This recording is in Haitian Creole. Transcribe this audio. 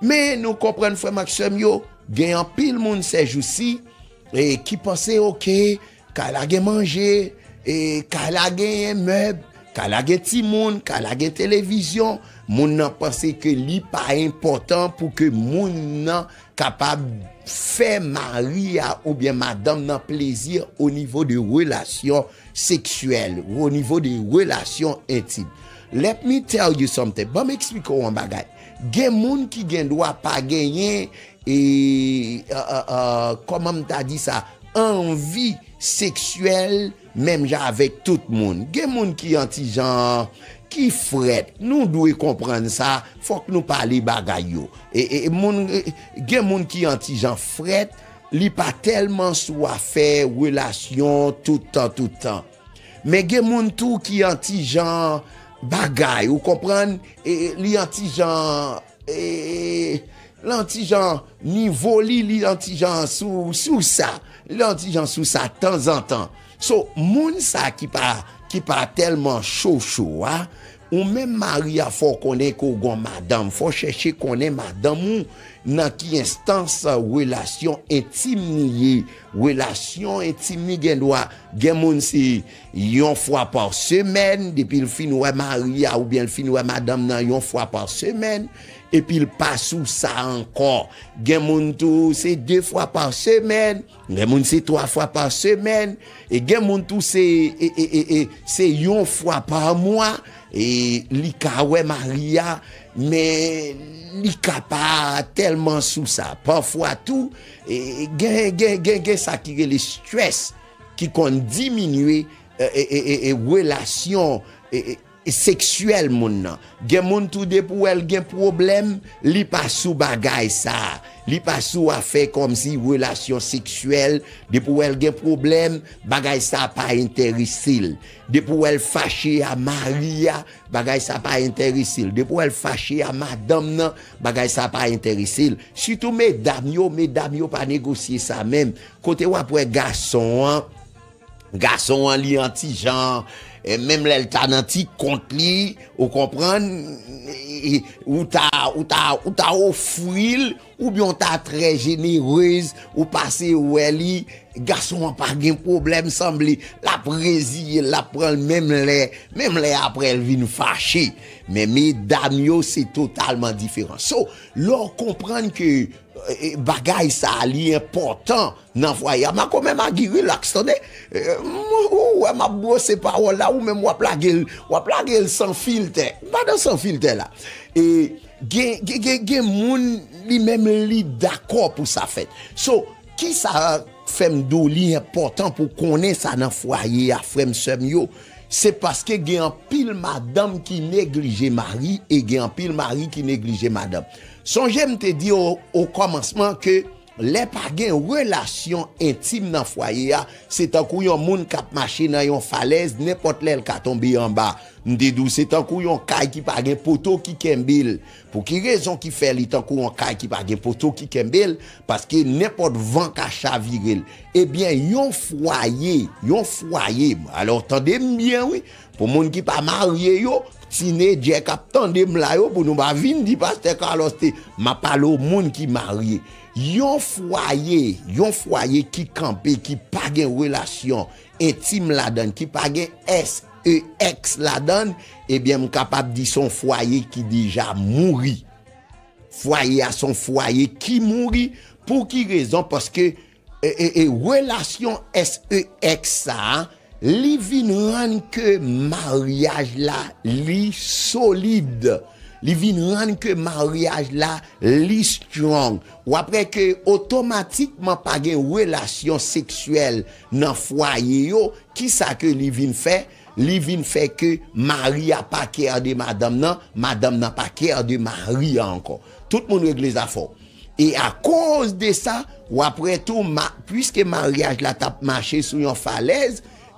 Men nou konprann frèm ak sèm yo, gen anpil moun sèjousi e ki panse ok kay la gen manje e kay la genyen mèb, kay la gen timoun, kay la gen televizyon, moun nan panse ke li pa enpòtan pou ke moun nan kapab fè mari a oubyen madanm nan plezi o nivo de relasyon seksyèl, o nivo de relasyon entim. Let me tell you something, banm eksplike w yon bagay. Gen moun ki gen dwa pa genyen e, kòman m ta di sa, anvi seksyèl menm jan avèk tout moun. Gen moun ki yon ti jan, ki frèt. Nou dwe konprann sa, fòk nou pale bagay yo. E, e, moun, gen moun ki yon ti jan frèt, li pa tèlman sou afè relasyon tout tan, tout tan. Men gen moun tou ki an ti jan bagay ou konprann e li an ti jan e lan ti jan nivo li li an ti jan sou sou sa li an ti jan sou sa tanzantan so moun sa ki pa ki pa tèlman cho cho a ou menm mari a fò konnen ke ou gon madanm fò chèche konnen madanm ou nan ki enstans relasyon entim ni ye Relasyon entim li gendwa gen moun se yon fwa pa semèn, depi l fin wè mari a oubyen l fin wè madanm nan yon fwa pa semèn, epi l pa sou sa ankò. Gen moun tou se de fwa pa semèn, gen moun se twa fwa pa semèn, e gen moun tou se se yon fwa pa mwa li ka wè mari a, men li ka pa tèlman sou sa. Pafwa tou, Gen sa ki rele stress ki konn diminye relasyon seksyèl moun nan. Gen moun tou depi ou wè l gen pwoblèm, li pa sou bagay sa. Li pa sou afè kòmsi relasyon seksyèl. Depi ou wè l gen pwoblèm, bagay sa pa enterese l. Depi ou wè l fache a, mari a. Bagay sa pa entèresel. Depi ou wè l fache a madanm nan, bagay sa pa entèrese l. Sitou medam yo, medam yo pa negosye sa menm. Kote wap wè gason an, gason an li an ti jan, menm lè l ta nan ti kont li, ou konprann, ou ta, ou ta, ou ta ofri l, Ou byen w ta trè jenerez ou pase wè li gason an pa gen pwoblèm sanble lap reziye l lap pran l menm lè menm lè aprè l vin fache men medam yo se totalman diferan so lè w konprann ke bagay sa li enpòtan Nan vwa ya makomè magi relax tande humm ou wè map brose pawòl la ou menm wap lagel wap lagel san filtè m pa nan san filtè la e gen gen moun li menm li dakò pou sa fèt so kisa fèm diw li enpòtan pou w konnen sa nan fwaye a frèm sèm yo se paske gen anpil madanm ki neglije mari e gen anpil mari ki neglije madanm sonje m te diw o kòmansman ke Lè pa gen relasyon entim nan fwaye a, se tankou yon moun k ap mache nan yon falèz, nenpòt lè l ka tonbe anba. M te di w se tankou yon kay ki pa gen poto ki kenbe l. Pou ki rezon ki fè li tankou yon kay ki pa gen poto ki kenbe l? Paske nenpòt van ka chavire l. Ebyen, yon fwaye, yon fwaye, alò tande m byen wi, Pou moun ki pa marye yo, tinedjè kap tande m la yo pou nou pa vin di pastè Carlos te, map pale o moun ki marye. Yon fwaye, yon fwaye ki kanpe ki pa gen relasyon entim ladan l, ki pa gen SEX ladan l, ebyen m kapab di se yon fwaye ki deja mouri. Fwaye a se yon fwaye ki mouri, pou ki rezon? Paske E relasyon SEX sa li vin rann ke maryaj la li solid, li vin rann ke maryaj la li strong. Ou ap wè ke otomatikman pa gen relasyon seksyèl nan fwaye yo, ki sa ke li vin fè? Li vin fè ke mari a pa care de madanm nan, madanm nan pa care de mari a ankò. Tout moun regle zafè w. E akoz de sa, w ap wè tou, pwiske maryaj la t ap mache sou yon falèz,